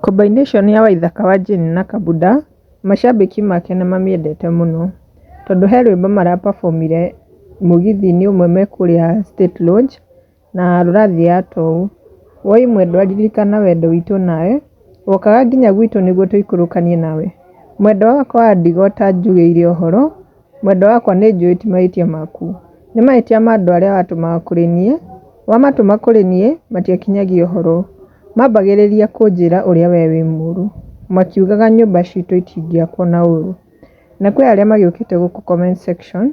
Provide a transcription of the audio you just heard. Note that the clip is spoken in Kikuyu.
Combination ya Waithaka wa Jane na Kabuda macambĩki make nĩmamĩendete mũno tondũ he rwĩmbo maraperformire mũgithi-inĩ ũmwe me kũrĩa State Lodge na rũrathiĩ ya tũhũ. Woi mwendwa ririkana wendo witũ nawe, wokaga nginya gwitũ nĩguo tũikũrũkanie nawe. Mwendwa wakwa wa ndigo ta njugĩire ũhoro, mwendwa wakwa nĩ njũĩ ti mahĩtia maku. Nĩ mahĩtia ma andũ arĩa watũmaga kũrĩ niĩ, wamatũma kũrĩ niĩ matiakinyagia ũhoro. Mambagĩrĩria kũnjĩra ũrĩa we wĩ mũũru, makiugaga nyũmba citũ itingĩakwo na ũũru. Na kwĩ arĩa magĩũkĩte gũkũ comment section